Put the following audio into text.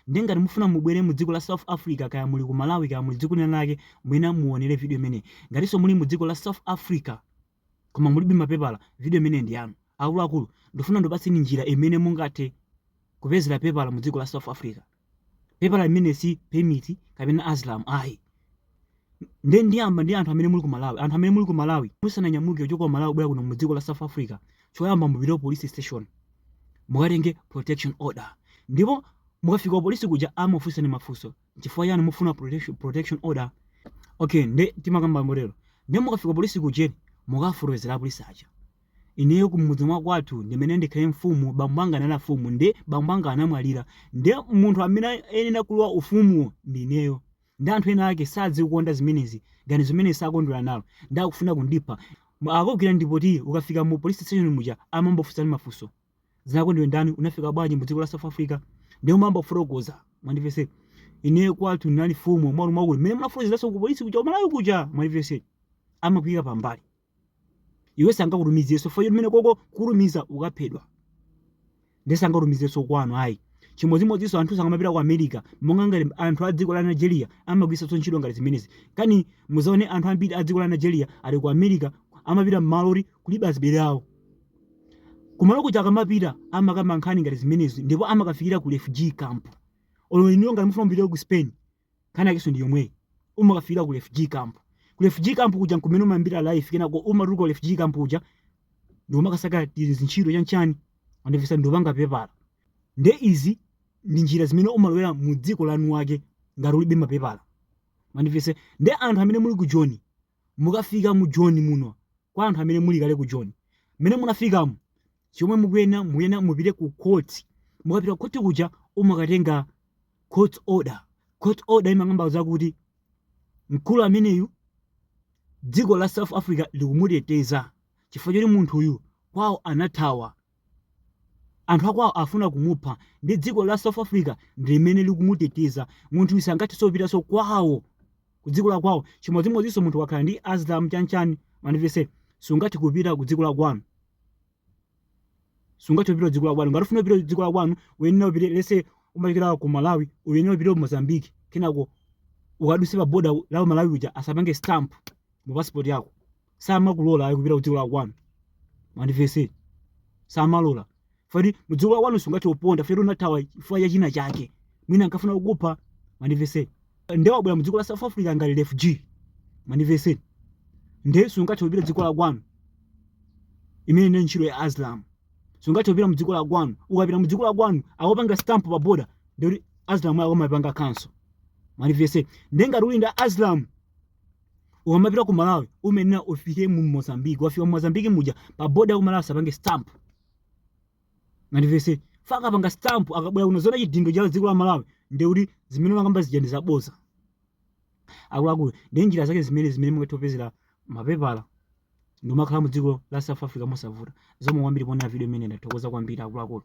Ndiye ngati mufuna mubwere mu dziko la South Africa kaya muli ku Malawi kaya muli dziko lina lake mwina muonere video imene. Ngatinso muli mu dziko la South Africa koma mulibe mapepala, video imene ndi yanu. Akuluakulu, ndifuna ndikupatseni njira imene mungathe kupezera pepala mu dziko la South Africa. Pepala limene si permit kapena asylum ayi. Nde ndiyamba ndi anthu amene muli ku Malawi. Anthu amene muli ku Malawi, musananyamuke kuchoka ku Malawi kubwera kuno mu dziko la South Africa, choyamba mupite ku police station mukatenge protection order. Ndipo mukafika ku polisi kuja amakufunsani mafunso, nchifukwa chani mufuna protection, protection order? Okay, nde timakamba motero. Nde mukafika ku polisi kujeni mukafotokozera apolisi aja. Ineyo kumudzi mwa kwathu ndimene ndikhale mfumu, bambo anga anali mfumu, nde bambo anga anamwalira, nde munthu amene ayenera kulowa ufumuwo ndi ineyo. Nde anthu ena ake sakuzikonda zimenezi ganizo limeneli sakondwera nalo nde akufuna kundipha mu akagwira ndipoti ukafika mu police station muja amangokufunsani mafunso zinako ndiwe ndani unafika bwanji mu dziko la South Africa nde umayamba kufotokoza mwandimvetsa ineyo kwathu ndinali mfumu mwalu mwakulu mmene munafotokozeranso ku police kuja ku Malawi kuja mwandimvetsa amakuyika pambali iwe sangakutumizenso fayo mene koko kukutumiza ukaphedwa nde sangakutumizenso kwanu ayi chimodzimodzinso anthu ena akamapita ku america monga ngati anthu a dziko la nigeria amagwiritsanso ntchito nkhani zimenezi kani muzaone anthu ambiri a dziko la nigeria ali ku america amapita mmalo oti kulibe azibale awo kumalo kuja akamapita amakamba nkhani ngati zimenezi ndipo amakafikira ku refugee camp olo inuyo ngati mufuna mupite ku spain Nkhani yakenso ndi yomweyi. Umakafikira ku refugee camp. Ku refugee camp kuja nkumene umayambira life kenako umatuluka ku refugee camp kuja ndikumakasaka tizintchito chanchani wandimvetsa ndikupanga pepala. Nde izi ndi njira zimene umalowera mu dziko la eni ake ngati ulibe mapepala. Wandimvetsa? Nde anthu amene muli ku Joni Mukafika mu Joni muno, kwa anthu amene muli kale ku Joni, mmene munafikamo, chomwe mukuyenera, mukuyenera mupite ku court. Mukapita ku court kuja umakatenga court order. Court order imakamba zakuti mkulu ameneyu dziko la South Africa likumuteteza chifukwa choti munthuyu kwawo anathawa. Anthu akwawo afuna kumupha nde dziko la South Africa ndilimene likumuteteza. Munthuyu sangathenso kupitanso kwawo ku dziko la kwawo chimodzimodzinso munthu ukakhala ndi asylum chani chani mwandimvetsa sungathe kupita ku dziko la kwanu. Sungathe kupita ku dziko la kwanu. Ngati ufuna kupita ku dziko la kwanu uyenera upite let's say umachokera ku Malawi uyenera upite ku Mozambique kenako ukaduse pa border la ku Malawi kuja asapange stamp mu passport yako. samakulola ayi kupita kudziko la kwanu mandivese samalola fati mudziko la kwanu sungathe kuponda fati unathawa chifukwa cha china chake mwina ankafuna kukupha mandivese nde wabwera mudziko la south africa ngati refugee mandivese nde sungathe kupita dziko la kwanu imene ndi ntchito ya asylum sungathe kupita mudziko la kwanu ukapita mudziko la kwanu akupanga stamp pa boda ndekuti asylum yako amapanga cancel mandivese nde ngati uli ndi asylum ukamapita ku malawi umayenera ufike mu mozambique wafika mu mozambique muja pa boda ya ku malawi asapange stamp mandivese akakapanga stamp ukabwera kuno aona chidindo cha dziko la malawi ndekuti zimene umakamba zija ndi zaboza akuluakulu ndi njira zake zimene zimene mungathe kupezera mapepala ndi kumakhala mu dziko la south africa mosavuta zikomo kwambiri poonera video imene ndathokoza kwambiri akuluakulu